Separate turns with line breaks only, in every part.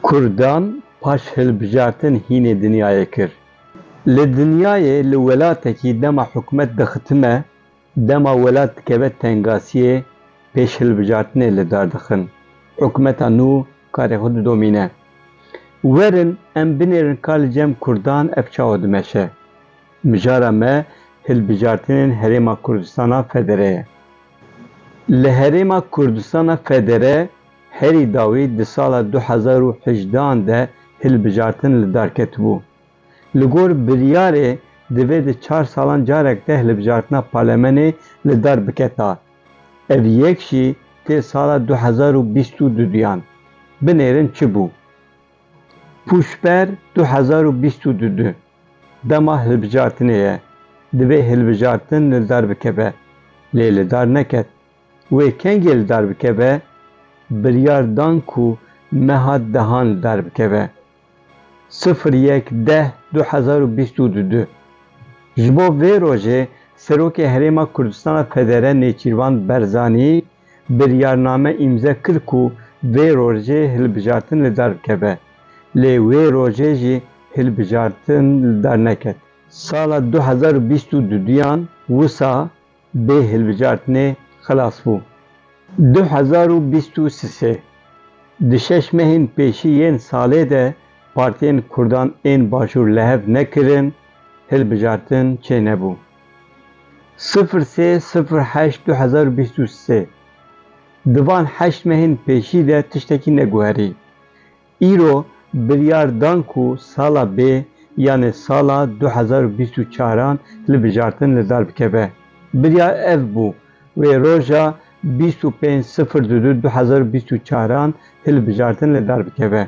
Kurdan paş hilbijartin hînê dinyayê kir. Li dinyayê li welatekî dema hikûmet dixitime, dema welat dikeve tengasiyê pêş hilbijartinê li dar dixin. Hikûmeta nû karê xwe didomîne. Werin em binêrin ka li cem kurdan ev çawa dimeşe. Mijara me hilbijartinên Herêma Kurdistana Federe ye. Li Herêma Kurdistana Federe herî dawî di sala du hezar û hejdeh an de hilbijartin li dar ketibû. Li gor biryarê divê di çar salan carek de hilbijartina palemenê li dar biketa. Ev yek jî tê sala du hezar û bîst û du duyan. Binêrin çi bû? Pûşber du hezar û bîst û du du. Dema hilbijartinê ye, divê hilbijartin li dar bikeve, lê li dar neket. Wê kengê li dar bikeve, biryar dan ku meha dehan li dar bikeve. Sifir yek deh du hezar û bîst û du du Ji bo vê rojê Serokê Herêma Kurdistana Federe Nêçîrvan Berzanî biryarname îmze kir ku vê rojê hilbijartin li dar bikeve, lê wê rojê jî hilbijartin li dar neket. Sala du hezar û bîst û du duyan wisa bê hilbijartinê xilas bû. Du hezar û bîst û sisê di şeş mehên pêşî yên salê de partiyên kurdan ên Başûr li hev nekirin, hilbijartin çênebû. Sifir sê sifir heşt du hezar û bîst û sê Di van heşt mehên pêşî de tiştekî neguherî. Îro biryar dan ku sala bê yanê sala du hezar û bîst û çar an hilbijartin li dar bikeve. Biryar ev bû wê roja bîst û pênc sifir du du du hezar û bîst û çar an hilbijartin li dar bikeve.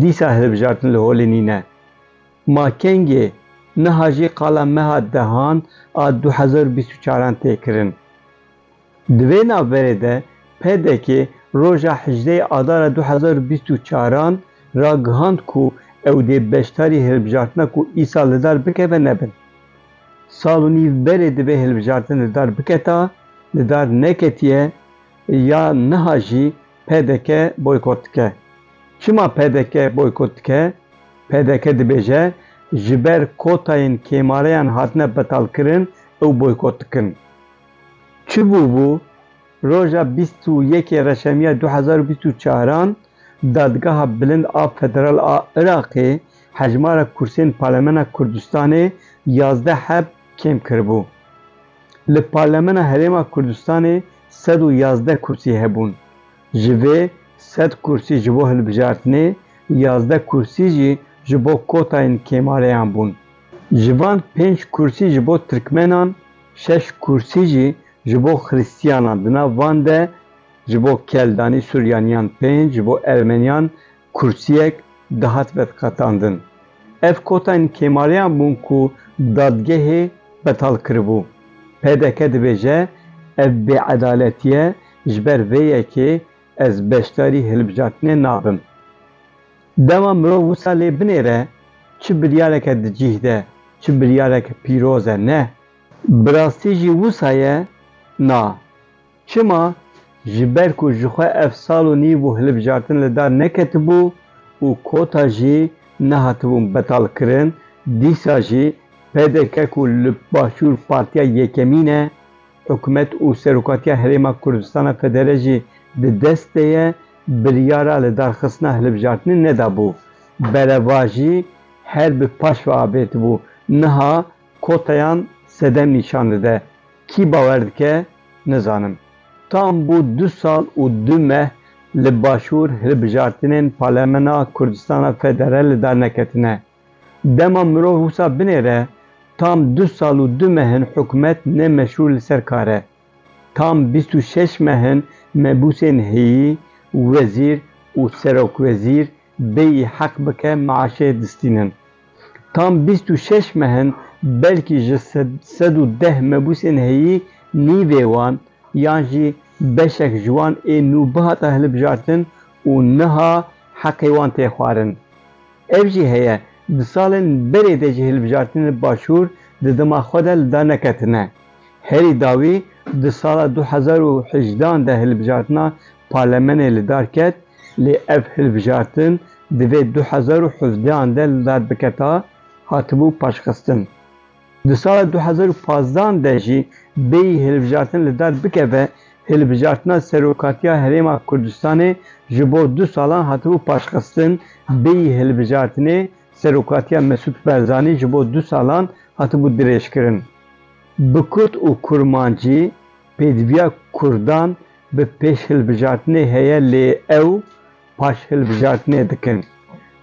Dîsa hilbijartin li holê nîne. Ma kengê niha jî qala meha dehan a du hezar û bîst û çar an tê kirin. Di vê navberê de PDK roja hejdeyê adara du hezar û bîst û çar an ragihand ku ew dê beşdarî hilbijartina ku îsal li dar bikeve nebin. Sal û nîv berê divê hilbijartin li dar biketa, li dar neketiye ya niha jî pdk boykot dike. Çima pdk boykot dike? Pdk dibêje ji ber kotayên kêmareyan hatine betalkirin ew boykot dikin. Çi bûbû? Roja bîst û yekê Reşemiya du hezar û bîst û çar an Dadgeha Bilind a Federal a Iraqê hejmara kursiyên Parlemena Kurdistanê yazdeh heb kêm kiribû. Li Parlemena Herêma Kurdistanê sed û yazdeh kursî hebûn. Ji vê sed kursî ji bo hilbijartinê, yazdeh kursî jî ji bo kotayên kêmareyan bûn. Ji van pênc kursî ji bo tirkmenan, şeş kursî jî ji bo xirîstiyanan, di nav van de ji bo keldanî, suryaniyan, pênc ji bo ermeniyan, Kursiyek dihat veqetandin. Ev kotayên Kêmaliyan bûn ku dadgehê betal kiribû. Pdk dibêje ev bêedaletîye ji ber vê yekê ez beşdarî hilbijartinê nabim. Dema mirov wisa lê binêre çi biryareke di cîh de, çi biryareke pîroz e ne. Bi rastî jî wisa ye na. Çima? Ji ber ku ji xwe ev sal û nîv û hilbijartin li dar neketibû û kota jî nehatibûn betalkirin, dîsa jî pdk ku li Başûr partiya yekemîn e, hikûmet û Serokatiya Herêma Kurdistana Federe jî di dest de ye, biryara lidarxistina hilbijartinê nedabû. Bereva jî her bi paş ve avêtibû. Niha kotayan sedem nîşan dide. Kî bawer dike nizanim. Tam bû du sal û du meh li Başûr hilbijartinên Parlemena Kurdistana Federali de neketine. Dema mirov wisa binêre, tam du sal û du meh in hikûmet ne meşrû li ser kar e. Tam bîst û şeş meh in mebûsên heyî, wezîr û serokwezîr bêyî heq bike meaşê distînin. Tam bîst û şeş mehin belkî ji sed û deh mebûsên heyî nîvê wan yan jî beşek ji wan ê nû bihata hilibjartin û niha heqê wan tê xwarin. Ev jî heye di salên berê de jî hilibjartinên Başûr di dema xwe de li dar neketine. Herî dawî di sala du hezar û hejdan de hilibjartina Parlemenê li dar ket, lê ev hilbijartin divê du hezar û hevdeh an de li dar biketa, hatibû paşxistin. Di sala du hezar û pazdeh an de jî bêyî hilbijartin li dar bikeve, hilbijartina Serokatiya Herêma Kurdistanê ji bo du salan hatibû paşxistin, bêyî hilbijartinê Serokatiya Mesûd Barzanî ji bo du salan hatibû dirêjkirin. Bi kurt û kurmancî pêdiviya kurdan Bi pêşhilbijartinê heye lê ew paşhilbijartinê dikin.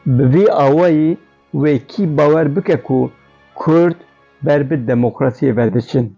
Bi vî awayî wê kî bawer bike ku Kurd ber bi demokrasiyê ve diçin.